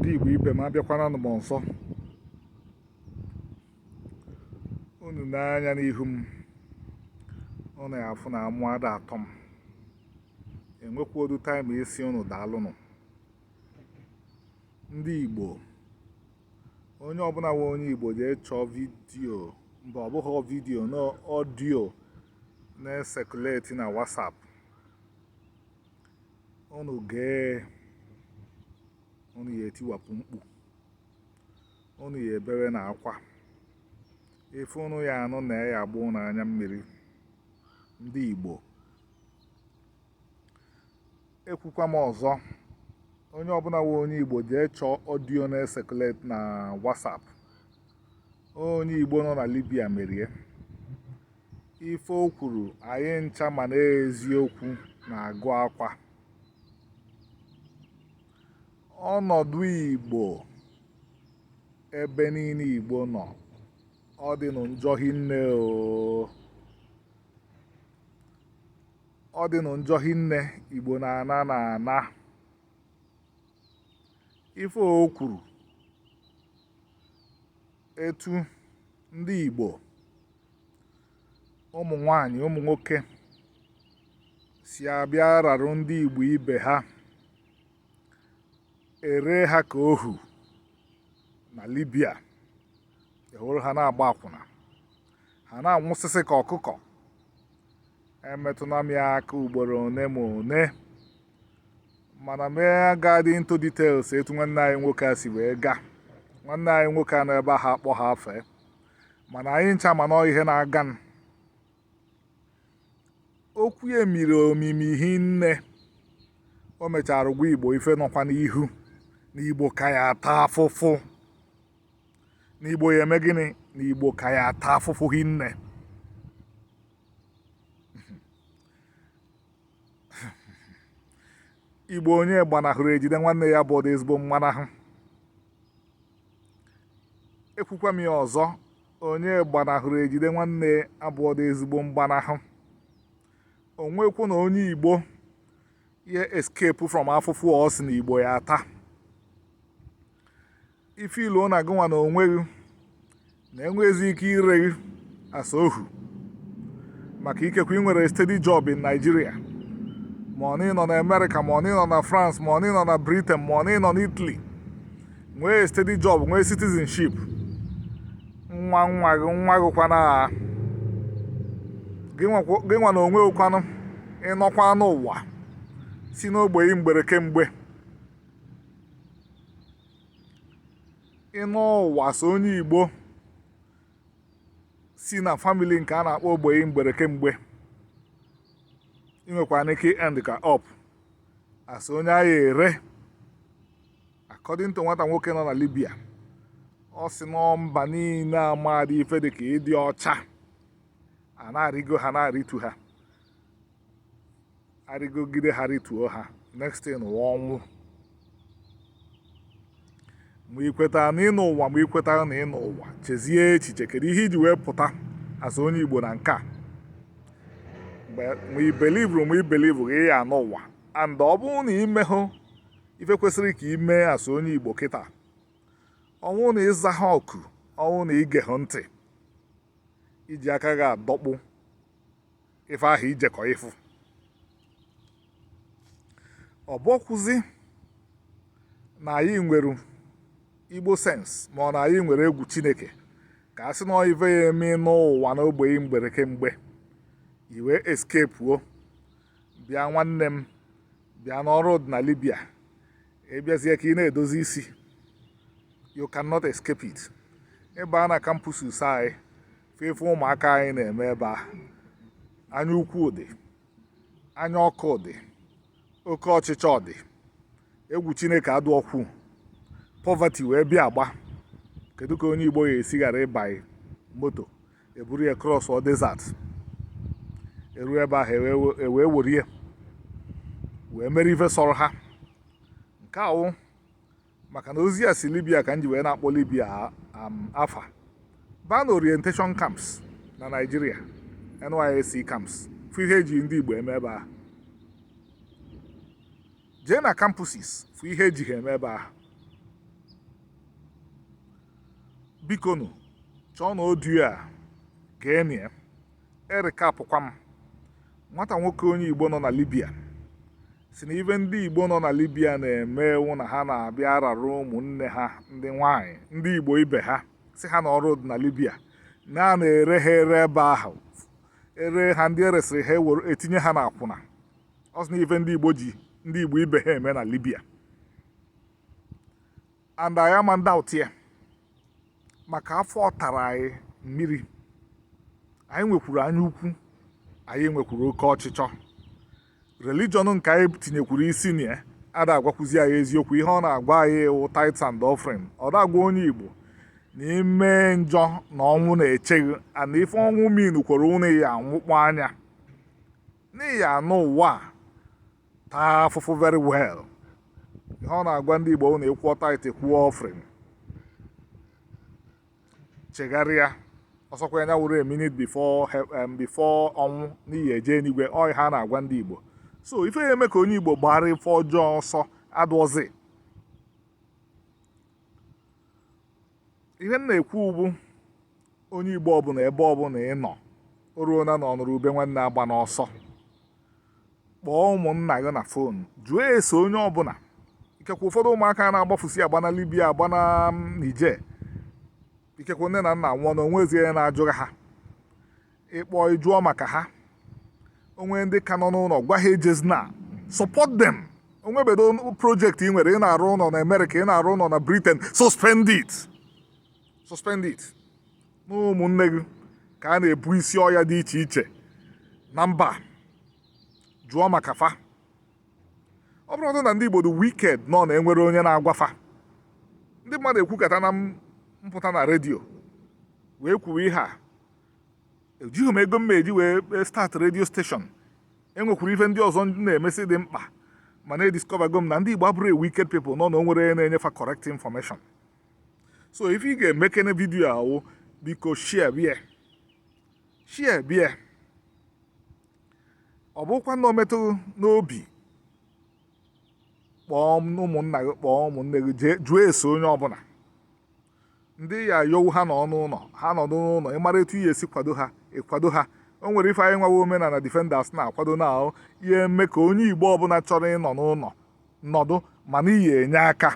ndị Igbo ibe m abịakwana m ọzọ unu nee anya n'ihu m unu ya afụ na amụ ada atọ m enwekwaọdụ taịm ịsị unu daalụnụ ndị Igbo onye ọbụna wụ onye Igbo jee chọọ vidiyo mba ọ bụghị vidiyo na ọdiyo na-esekuleti na WhatsApp unu gee unu ya etiwapụ mkpu unu ya ebewe na akwa ife unu ya anụ na ya agba unu anya mmiri ndị Igbo ekwukwa m ọzọ onye ọbụna wụ onye Igbo jee chọọ ọdio na-esekuleti na WhatsApp onye Igbo nọ na Libya merie ife o kwuru anyị ncha ma na eziokwu na-agụ akwa ọnọdụ Igbo ebe niine Igbo nọ ọ dị nụ njọ hinne o ọ dị nụ njọ hinne Igbo na-ana na ana ife o kwuru etu ndị Igbo ụmụ nwanyị ụmụ nwoke si abịa ararụ ndị Igbo ibe ha ere ha ka ohu na Libya ewere ha na-agba akwụna ha na-anwụsịsị ka ọkụkọ emetụna m ya aka ugboro one ma one mana m agadị into details etu nwanne anyị nwoke a si wee gaa nwanne anyị nwoke a nọ ebe ahụ akpọ ha afa mana anyị ncha manụ ihe na-aganụ okwu ya miri omimi hinne o mechara gwa igbo ife nọkwa n'ihu na igbo ka ya ata afụfụ na igbo ya eme gịnị na igbo ka ya ata afụfụ hinne igbo onye gbanahụrụ ejide nwanne ya abụọdụ ezigbo mgbanahụ ekwukwa m ya ọzọ onye gbanahụrụ ejide nwanne abụọdụ ezigbo mgbanahụ o nwekwanụ onye igbo ya escape from afụfụ ọ sị na igbo ya ata ị feel na gị nwa na onwe gị na enweghịzi ike ire gị as ohu maka ikekwe ị nwere steady job in Nigeria ma ọ nọ na Amerịka ma ọ nọ na France ma ọ nọ na Britain ma ọ nọ na Italy nwee steady job nwee citizenship nwa nwa gị nwa gị kwanụ gị nwa na onwe gị kwanụ ị nọkwanụ ụwa si n'ogbenye mgbere kemgbe ị nọọ ụwa as onye igbo si na famili nke a na-akpọ ogbenye mgbere kemgbe i nwekwanụ ike end kwa up as onye a ga-ere according to nwata nwoke nọ na libya ọ sị na mba niile amadị ife dị ka ịdị ọcha a na-arịgo ha na-arịtu ha arịgogide ha rituo ha next thing wụ ọnwụ ma ikweta na ịnọ ụwa ma ikweta na ịnọ ụwa chezie echiche kedu ihe iji wee pụta as onye igbo na nke a ma i believeru ma i believeru gị ya anọ ụwa and ọ bụrụ na imehụ ife kwesịrị ka ime as onye igbo kịta ọ wụ na ịza ha oku ọ wụ na ige ha ntị iji aka gị adọkpụ ife ahụ ijekọ ịfụ ọ bụọkwuzi na anyị nwere igbo sense ma ọ na anyị nwere egwu chineke ka a sị na ife ya eme ịnọ ụwa n'ogbenye mgbere kemgbe i wee escapuo bịa nwanne m bịa na ọrụ dị na libya ịbịazie ka ị na-edozi isi you cannot escape it ị baa na campuses anyị fụ ife ụmụaka anyị na-eme ebe a anya ukwu dị anya ọkụ dị oke ọchịchọ dị egwu chineke adịọkwu poverty wee bịa agba kedu ka onye igbo ya esi ghara ịbanye moto eburu ya crossuo desert eru ebe ahụ ewee were ya wee mere ife sọrọ ha nke a wụ maka na ozi a si libya ka m ji wee na-akpọ libya afa baa na orientation camps na naijiria nysc camps fụ ihe eji ndị igbo eme ebe ahụ jee na campuses fụ ihe eji ha eme ebe ahụ bikonu chọọnụ audio a geenụ ya e recapụkwa m nwata nwoke onye igbo nọ na libya sị na ife ndị igbo nọ na libya na-eme wụ na ha na-abịa arara ụmụnne ha ndị nwanyị ndị igbo ibe ha sị ha na ọrụ dị na libya na a na-ere ha ere ebe ahụ ere ha ndị eresịrị ha ewere etinye ha n'akwụna ọ sị na ife ndị igbo ji ndị igbo ibe ha eme na libya and anyị ama ndoubt ya maka afọ tara anyị mmiri anyị nwekwuru anya ukwu anyị nwekwuru oke ọchịchọ religion nke anyị tinyekwuru isi na ya ada agwakwuzi anyị eziokwu ihe ọ na-agwa anyị wụ tithes and offering ọ da-agwa onye igbo na ime njọ na ọnwụ na-eche gị and ife ọnwụ mean kwere ụnụ ya anwụkpọ anya na ị ya anọ ụwa taa afụfụ very well ihe ọ na-agwa ndị Igbo na ịkwụọ tithe kwụọ offering chegharịa ọsọkwa ya wụrụ a minute before um, before ọnwụ na iyi eje enigwe ọ ihe a na-agwa ndị Igbo so ife ya eme ka onye Igbo gbara ife ọjọọ ọsọ adụọzi ihe m na-ekwu bụ onye igbo ọbụla ebe ọbụla ị nọ o ruona na ọnụrụ ube nwanne agbana ọsọ kpọọ ụmụnna gị na phone jụọ ese onye ọbụla ikekwe ụfọdụ ụmụaka na-agbafusi agba na libya agba na mm, niger ikekwe nne na nna nwụọ na onwe ezie na-ajụghị ha ị kpọ ị jụọ maka ha o nwee ndị ka nọ n'ụlọ gwa ha ejezina support them onwebedo project ị nwere ị na-arụ ụlọ na America ị na-arụ ụlọ na Britain suspend it suspend it na ụmụnne gị ka a na-ebu isi ọya dị iche iche na mba jụọ maka fa ọ bụrọ na ndị Igbo dị wicked nọ na enwerọ onye na-agwa fa ndị mmadụ ekwukata na m pụta na redio wee kwuwe ihe a ejighị m ego m eji wee e, start radio station enwekwuru ife ndị ọzọ na-emesị dị mkpa mana ediscovergo m na ndị Igbo abụrọ wicked people nọ na o nwerọ na-enye fa correct information so ife ị ga-emekene video ahụ biko share bie share bie ọ bụkwa na o metụ n'obi kpọọ ụmụnna gị kpọọ ụmụnne gị jụọ ese onye ọbụla ndị ya yowu ha nọ n'ụlọ ha nọ n'ụlọ ị mara etu iyi esi kwado ha ị kwado ha o nwere ife anyị nwawa omenala defenders na-akwado na ọ ya eme ka onye igbo ọbụla chọrọ ịnọ n'ụlọ nọdụ mana iyi enye aka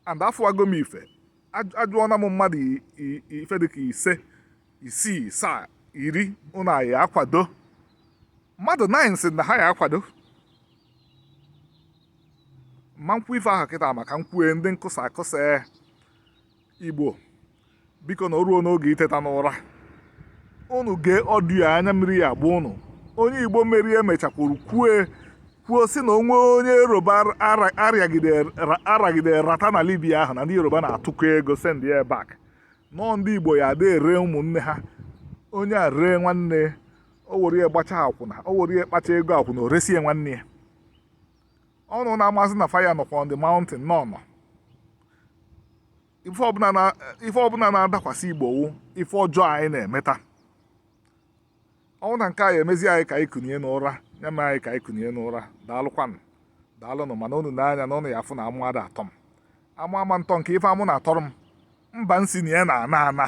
and afụwago m ife ajụọna m mmadụ ife dịka ise isii asaa iri ụnụ ya akwado mmadụ nine si na ha ya akwado ma nkwu ife ahụ kịta maka nkwue ndị nkụsa akụsa igbo biko na o ruo n'oge iteta n'ụra unu gee audio anya mmiri ya agba unu onye igbo mmeri emechakwuru kwue kwuo si na onwe onye yoruba aragide rata na libya ahụ na ndị yoruba na-atụkọ ego send ya back nọọ ndị igbo ya ada ere ụmụnne ha onye a ree nwanne o were ya gbacha akwụna o were ya kpacha ego akwụna o resie nwanne ya unu na-amazi na fire nọkwa on the mountain nọ nọ ife ọbụla na- ife ọbụla na-adakwasị igbo wụ ife ọjọọ anyị na-emeta ọ wụ na nke a ya-emezi anyị ka anyị kunie n'ụra ya mee anyị ka anyị kunie n'ụra daalụkwanụ daalụnụ mana unu nee anya na unu ya-afụ na amụ ada atọ m amụ ama ntọ nke ife amụ na-atọrọ m mba nsi na ya na ana ana